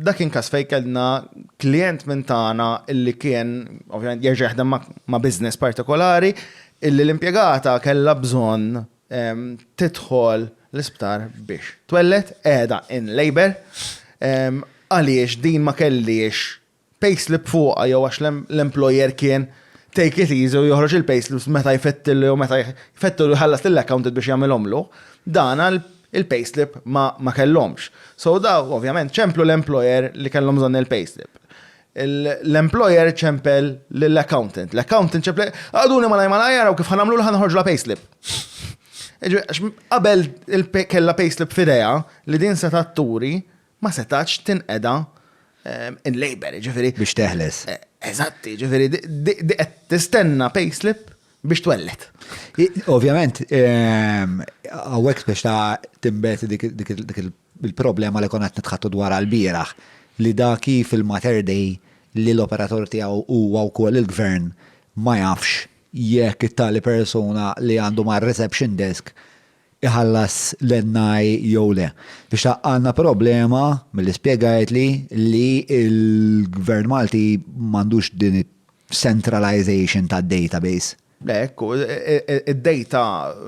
Dak kien każ fejn kellna klijent minn tagħna illi kien ovvjament jerġa' jaħdem ma' business partikolari illi l-impjegata kellha bżonn tidħol l-isptar biex twelled qiegħda in labour għaliex din ma kellhiex payslip fuqha jew għax l-employer kien take it easy u joħroġ il-payslips meta jfettillu jew meta jfettillu jħallas lill-accountant biex jagħmilhomlu, dan il-payslip ma ma kellhomx. So dawk ovvjament ċemplu l-employer li kellhom bżonn il-payslip. L-employer ċempel lill-accountant. L-accountant ċempel, għaduni malaj malaj għaraw kif ħanamlu l ħanħorġu la payslip. Qabel kellha payslip fideja li din se turi ma setgħatx tinqeda in labour, jiġifieri. Biex teħles. Eżatt, jiġifieri di qed tistenna payslip biex twelled. Ovvjament, hawnhekk biex ta' timbet dik il- il-problema li konat nitħattu dwar għal-biraħ li da kif il-Mater Dei li l-operatur tiegħu huwa wkoll il-gvern ma jafx jekk it-tali persuna li għandu mar-reception desk iħallas l-NI jew le. Biex tgħaqqad għandna problema, milli spjegajtli, li l-Gvern Malti m'għandux din it-centralization tad-database. Hekk hu, id-data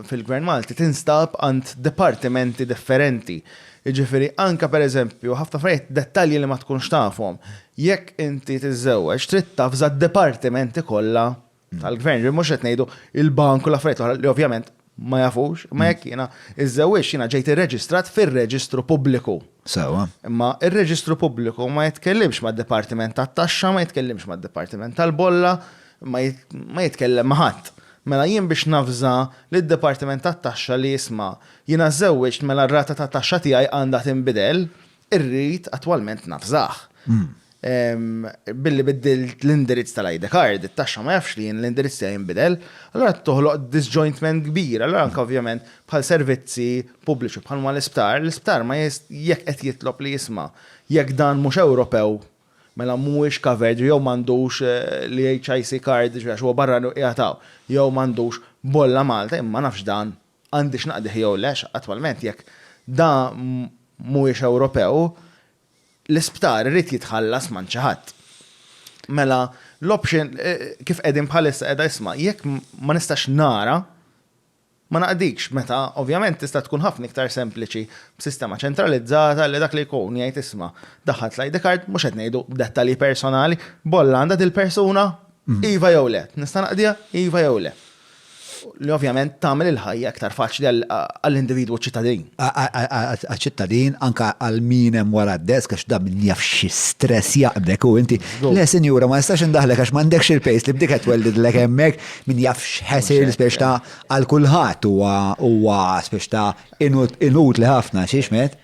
fil-Gvern Malti tinstab għand dipartimenti differenti. Jiġifieri anke pereżempju ħafna affarijiet, dettalji li ma tkunx tafhom, jekk inti tiżżewweġ trid tavża d-dipartimenti kollha tal-gvern, li mhux qed ngħidu il-bank u l-affarijiet oħra li ovvjament ma jafux, ma jekk jiena iżewwiex jiena ġejt irreġistrat fir-reġistru pubbliku. Sewa. Imma ir-reġistru pubbliku ma jitkellimx mad-dipartiment tat-taxxa, ma jitkellimx mad-dipartiment tal-bolla, ma jitkellem ma' ħadd. Mela jien biex navża lid-dipartiment tat-taxxa li jisma' jiena żewwiġt mela r-rata tat-taxxa tiegħi għandha tinbidel, Irrid attwalment naf żgħaħ. Billi biddilt l-indirizz tal-ID card, it-taxxa ma jafx li jien l-indirizz tiegħi jinbidel, allura toħloq disjointment kbir. Allura anke ovvjament bħal servizzi pubbliċi bħal huma l-isptar, l-isptar ma jekk qed jitlob li jisma' jekk dan mhux Ewropew mela mhuwiex covered jew m'għandux l-EHIC card għax huwa barrani u qiegħed hawn, jew m'għandux bolla Malta, jien ma nafx dan. għandix naqdih jew le, għax attwalment jekk da mhuwiex Ewropew, l-isptar irid jitħallas m'għand xi ħadd. Mela l-option kif qegħdin bħalissa qiegħda isma' jekk ma nistax nara ma naqdikx meta ovvjament tista' tkun ħafna iktar sempliċi b'sistema ċentralizzata li dak li jkun jgħid isma' daħħalt l-ID card mhux qed ngħidu dettalji personali, bolla għandha dil-persuna? Iva jew le? Nista' naqdiha? Iva jew le? li ovvjament tagħmel il-ħajja iktar faċli għall-individwu ċittadin. Għaċ-ċittadin, anke għal min hemm wara d-desk, għax da min jaf xi stress jaqbdek u inti. Le, sinjura, ma nistax indaħlek għax m'għandekx il-pejs li b'dik qed tweldidlek hemmhekk, min jaf x'ħesir spiex ta' għal kulħadd huwa spiex ta' inutli ħafna, xi x'med.